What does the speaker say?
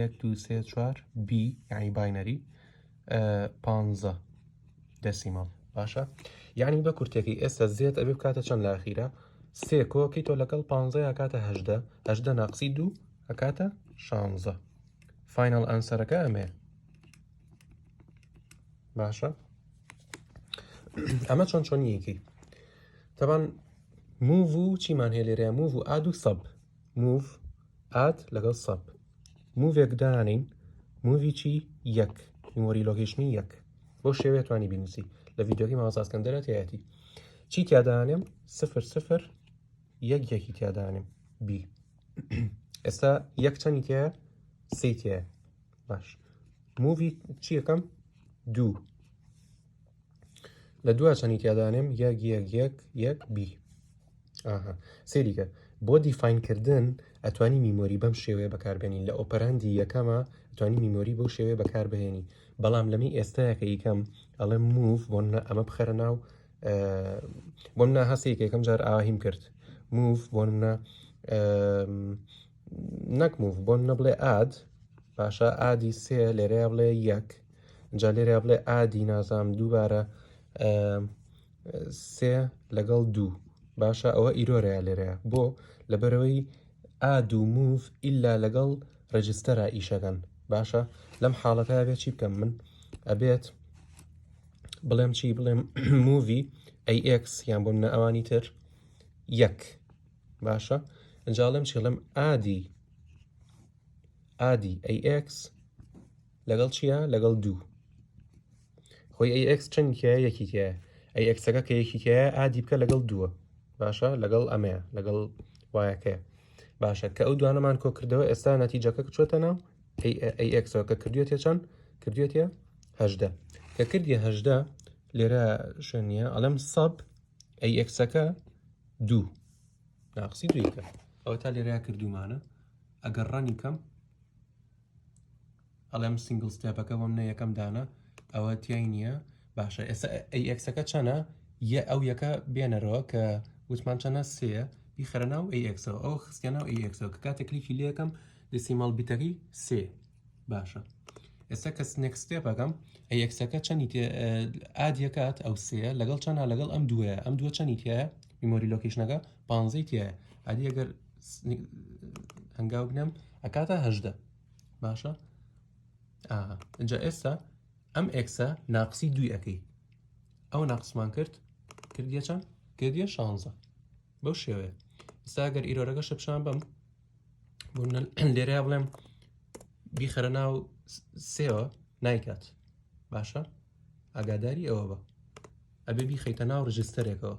یەک دوو سێ چوار بی یعنی باینەری پانزە دەسیمەڵ باشە یعنی بە کورتێکی ئێستا زێت ئەبێ بکاتە چەند لە ئاخیرە سێ کۆکی تۆ لەگەڵ پانزە یاکاتە هەشدە هەشدە ناقسی دوو ئەکاتە شانزە فینەڵ ئەنسەرەکە ئەمێ باشە ئەمە چۆن چۆنیەکی تەبان موو و چیمان هێ لێرە موو و ئاد و سەب موو ئاد لەگەڵ سەب مووێک دانین موویی یەک میمۆری لۆکیشنی یەک بۆ شێوێ توانی بینوسی لە ڤیددیوگی ماوەزاسکەندەرە تایەتی چی تیادانێم سفر سفر یەک یەکی تیادانێم بی ئێستا یەک چەنی تێ سی تێ باش مووی چیەکەم دوو لە دوا چەنی تیادانێم یەک یەک یەک یەک بی ئاها سێریکە بۆ دیفینکردن ئەتوانی میمۆری بەم شێوەیە بەکاربێنین لە ئۆپەراندی یەکەمە ئەتوانی میمۆری بەو شێوەیە بەکاربهێنی بەڵام لەمی ئێستاکە یکەم ئەڵێ موف بۆ ئەمە بخەرە ناو بۆم نا هەستێک یەکەم جار ئاهیم کرد موف بۆ منە نەک موف بۆم نە بڵێ ئاد باشە ئادی سێ لێرەیە بڵێ یەک جا لێرە بڵێ ئادی نازام دووبارە سێ لەگەڵ دوو باشە ئەوە ئیرۆرەیە لێرەیە بۆ لەبەرەوەی ئاد و موف ئللا لەگەڵ ڕێجستەرە ئیشەکەن باشە لەم حاڵەتە بێت چی بکەم من ئەبێت بڵێم چی بڵێم مووی ئەیX یان بۆم نە ئەوانی تر یەک باشە ئەجاڵم چڵم ئادی ئادی ئەیX لەگەڵ چیە لەگەڵ دوو خۆی ئەی ئەکس چەندکیە یەکی تایە ئەی ئەکسەکە کە یەکی تایە ئادی بکە لەگەڵ دووە باشە لەگەڵ ئەمەیە لەگەڵ وایەکەیە باشە کە ئەو دوانەمان کۆ کردەوە ئێستا نەتیجەکە چۆتە ناو ئەی ئەکسەوە کە کردوێتە چەند کردوێتە هەدە کە کردی هەدە لێرە شوێنە ئەڵم سەب ئەی ئەکسەکە دوو ناقسی دویکە ئەوە تا لێرە کردومانە ئەگەر ڕەنی کەم ئەڵێم سنگل ستێپەکە بۆم نە یەکەم دانە ئەوە تای نییە باشە ئێستا ئەکسەکە چەنە یە ئەو یەکە بێنەرەوە کە وتمان چەنە سێ بیخەرە ناو ئەکسەوە ئەو خستە ناو ئەکسەوە کە کاتە کلیکی لەکەم دەسیمەڵ بیتەکەی سێ باشە ئێستا کە سنێکس ستێپەکەم ئەکسەکە چەنی ئادیەکات ئەو سێ لەگەڵ چەنە لەگەڵ ئەم دوێ ئەم دووە چەنی تایە میمۆری لۆکیشنەکە پانزەی تایە ئادی ئەگەر هەنگاو بنێم ئەکاتە هەدە باشە ئەجا ئێستا ئەم ئەکسە ناقسی دوی ئەەکەی ئەو ناقسمان کرد کردە چەند کردە شانزە بەو شێوەیە ئستا گەر ئیرۆرەکە شەپشان بم لێرە بڵێم بیخەرە ناو سێوە نایکات باشە ئاگاداری ئەوە بە ئەبێ بیخەیتە ناو ڕژستەرێکەوە